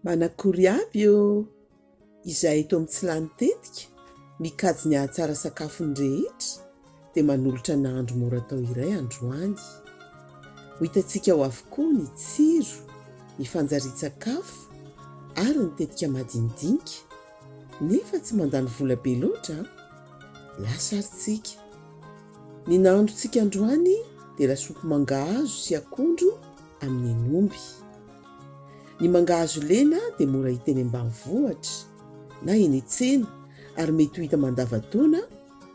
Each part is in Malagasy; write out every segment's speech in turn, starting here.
Manakory avy eo izay eto amin'ny tsy lany tetika mikajy ny hahatsara sakafony rehetra dia manolotra nahandro mora atao iray androany. Ho hitantsika ao avokoa ny tsiro, ny fanjarian-tsakafo ary ny tetika madinidinika Nefa tsy mandany vola be loatra an! Lasa ary tsika. Ny nahandrontsika androany dia lasopy mangahazo sy akondro amin'ny hen'omby. Ny mangahazo lena dia mora hita eny ambanivohitra na eny an-tsena ary mety ho hita mandava-taona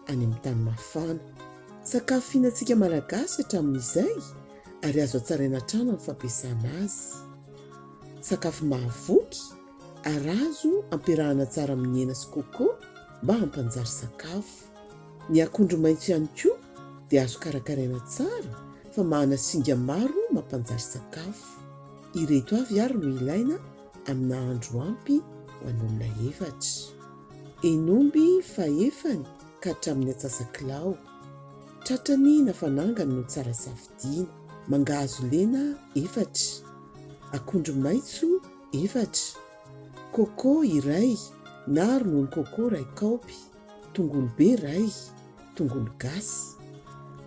any amin'ny tany mafana. Sakafo fihinantsika Malagasy hatramin'izay ary azo hatsaraina hatrany amin'ny fampiasana azy. Sakafo mahavoky ary azo ampiarahana tsara amin'ny hena sy coco mba hampanjary sakafo. Ny akondro maitso ihany koa dia azo karakaraina tsara fa mahana singa maro mampanjary sakafo. Ireto avy ary no ilaina amin'ny nahandro ampy ho an'olona efatra. Henomby fahefany ka hatramin'ny antsasa-kilao. Tratrany na fanangany no tsara safidiana. Mangahazo lena efatra. Akondro maitso. efatra, coco iray na ronono coco iray kaopy, tongolo be iray, tongolo gasy,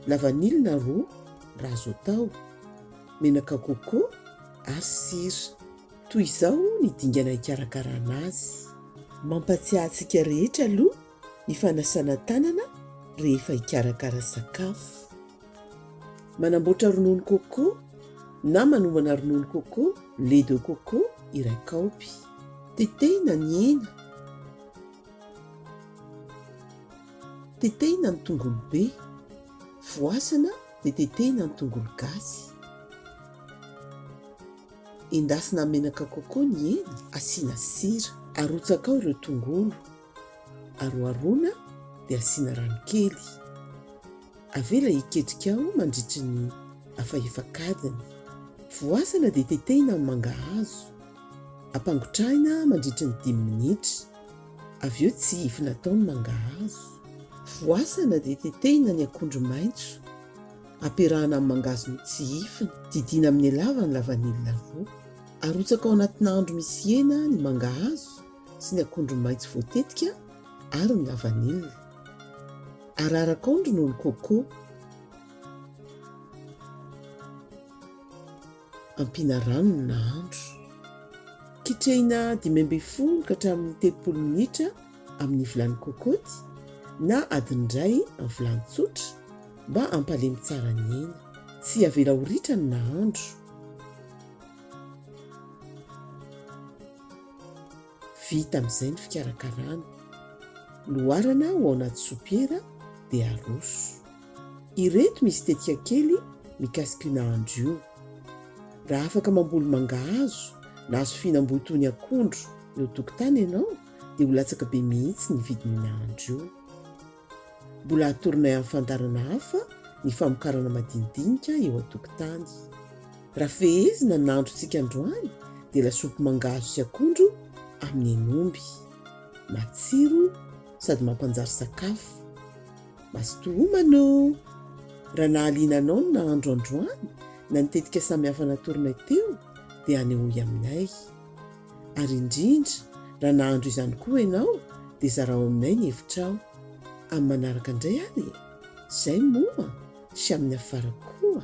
lavanila roa raha azo atao, menaka coco ary sira. Toy izao ny dingana hikarakarana azy. Mampatsiahy antsika rehetra aloha ny fanasana tanana rehefa hikarakara sakafo. Manamboatra ronono coco na manomana ronono coco, lait de coco, iray kaopy. Tetehina ny hena. Tetehina ny tongolo be. Voasana dia tetehina ny tongolo gasy. Endasina amin'ny menaka coco ny hena, asiana sira. Arotsaka ao ireo tongolo. Aroharoana dia asiana rano kely. Avela hiketrika ao mandritry ny afa efak'adiny. Voasana dia tetehina amin'ny mangahazo. Ampangotrahina mandritry ny dimy minitra. Avy eo tsihifina atao ny mangahazo. Voasana dia tetehina ny akondro maitso. Ampiarahana amin'ny mangahazo notsihifina. Didiana amin'ny elavany lavanila roa. Arotsaka ao anatina andro misy hena ny mangahazo. sy ny akondro maitso voatetika ary ny lavanila. Araraka ao ny ronono coco. Ampiana rano ny nahandro. Kitrehina dimy ambin'ny folo ka hatramin'ny telopolo minitra amin'ny vilany cocote na adiny iray amin'ny vilany tsotra mba hampalemy tsara ny hena. Tsy avela ho ritra ny nahandro. Vita amin'izay ny fikarakarana. Loarana ho ao anaty sopiera dia aroso. Ireto misy tetika kely mikasika io nahandro io. Raha afaka mamboly mangahazo na hazo fihinam-boa toy ny akondro eo an-tokotany ianao dia ho latsaka be mihitsy ny vidin'io nahandro io. Mbola hatoronay amin'ny fandaharana hafa ny famokarana madinidinika eo an-tokotany. Raha fehezina ny nahandrontsika androany dia lasopy mangahazo sy akondro amin'ny hen'omby. Matsiro sady mampanjary sakafo. Mazotoa homana ô! Raha nahaliana anao ny nahandro androany na ny tetika samihafa natoronay teo dia hanehoy aminay. Ary indrindra, raha nahandro izany koa ianao, dia zarao aminay ny hevitrao. Amin'ny manaraka indray ary e! Izay moa, sy amin'ny afara koa!